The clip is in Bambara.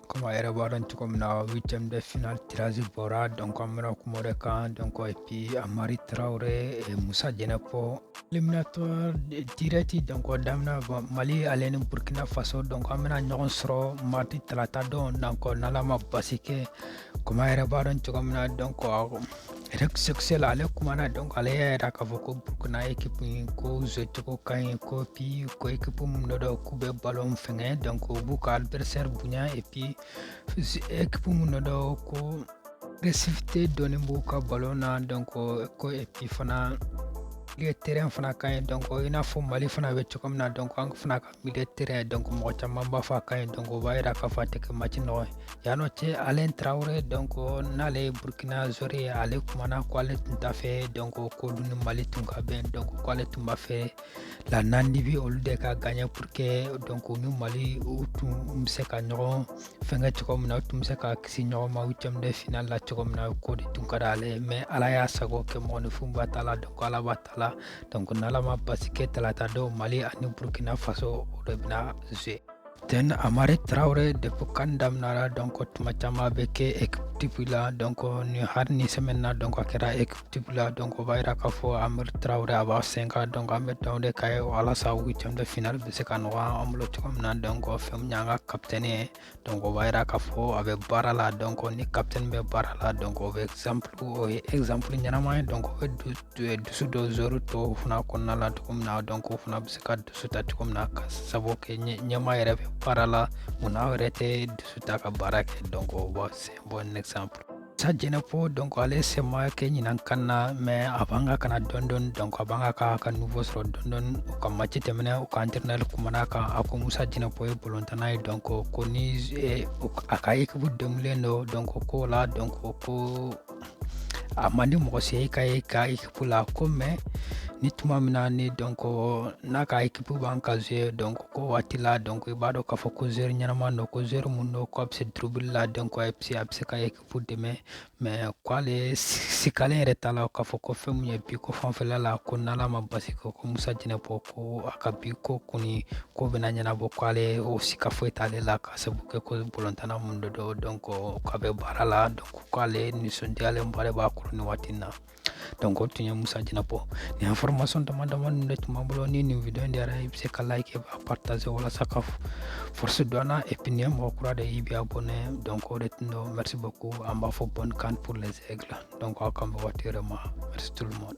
comme a yɛrɛ b'a dɔn cogo min na huitième de final tirage bɔra donc an bɛna kuma o de kan donc et puis amari tarawele eh, musa jɛnɛpɔ éliminatoire direct donc daminɛ mali ale ni burkina faso donc an bɛna ɲɔgɔn sɔrɔ mardi talata don donc n'ala ma basi kɛ comme a yɛrɛ b'a dɔn cogo min na donc eric sékou chelle ale kumana donc ale y'a yira k'a fɔ ko burkina ekipu in ko zuwe cogo ka ɲi ko puis ko ekipu min don k'u bɛ balon fɛnkɛ donc u b'u ka adversaire bonya et puis ekipu min don ko agressivité dɔɔni b'u ka balon na donc ko et puis fana terrain fana ka ɲi donc i n'a fɔ mali fana bɛ cogo min na donc an fana ka milieu terrain donc mɔgɔ caman b'a fɔ a ka ɲi donc o b'a yira k'a fɔ a tɛ kɛ match nɔgɔn ye an ɲɔgɔn cɛ alain tarawele donc n'ale ye burkina zori ye ale kumana ko ale tun t'a fɛ donc k'olu ni mali tun ka bɛn donc ko ale tun b'a fɛ la namibie olu de ka gaɲɛ pour que donc u ni mali u tun bɛ se ka ɲɔgɔn fɛnkɛ cogo min na u tun bɛ se ka kisi ɲɔgɔn ma huitième de final la cogo min na k'o de tun ka d'ale ye mais ala y'a sago kɛ mɔgɔninfin ba t'a la donc ala b'a t'a la donc n'ala ma basi kɛ talata don mali ani burkina faso o de bɛna zuwe amari traore depuis can daminara donc tuma caman a bɛ kɛ ekipu type la donc ni hali nin sɛmɛni na donc a kɛra ekipu type la donc o b'a yira k'a fɔ amari traore a b'a sen kan donc an bɛ dɔn de ka ye walasa huitième de final bɛ se ka nɔgɔya an bolo cogo min na donc fɛn min y'an ka kapitɛni ye donc o b'a yira k'a fɔ a bɛ baara la donc ni capitaine bɛ baara la donc o ye exemple o ye exemple ɲɛnama ye donc o bɛ dusu don joueur tɔw fana kɔnɔna la cogo min na donc o fana bɛ se ka dusu ta cogo min na ka sabu kɛ ɲɛmaa yɛrɛ bɛ baara la munna aw yɛrɛ tɛ dusu ta ka baara kɛ donc o b'a c'est un bon exemple sa jɛnɛpɔ donc ale sen ma kɛ ɲinan can na mais a b'a kan ka na dɔɔni dɔɔni donc a b'a kan k'a ka niveau sɔrɔ dɔɔni dɔɔni u ka maci tɛmɛnen u ka entraîneur kumana a kan a ko musa jɛnɛpɔ ye bolontanna ye donc ko ni eh, a ka ekipu degunlen don donc ko la donc ko a man di mɔgɔ si ka ye ka ekipu ko la ko mais ni tuma min na ni donc n'a ka ekipu b'a kan ka ze donc o waati la donc i b'a dɔn k'a fɔ ko zeri ɲɛnama don ko zeri min don ko a bɛ se durubili la donc a bɛ se a bɛ se ka ekipu dɛmɛ mais ko ale sikalen yɛrɛ t'a la k'a fɔ ko fɛn min ye bi ko fanfɛla la ko n'ala ma basi kɛ ko musa jɛnɛpɔ ko a ka bi ko kɔni ko bɛna ɲɛnabɔ ko ale o sika foyi t'ale la ka sabu kɛ ko bolontanna min don donc donc k'a bɛ baara la donc k'ale nisɔndiyalen b'ale b'a kɔrɔ nin waati na donc o tun ye musa jɛnɛpɔ nin information dama dama ninnu de tun b'an bolo ni nin video in diyara i bɛ se ka like k'a partager walasa ka force don an na et puis n'i ye mɔgɔ kura de ye i bɛ abonner donc o de tun don merci beaucoup an b'a fɔ bonne can pour les aigles donc aw k'an bɛn waati wɛrɛ ma merci tout le monde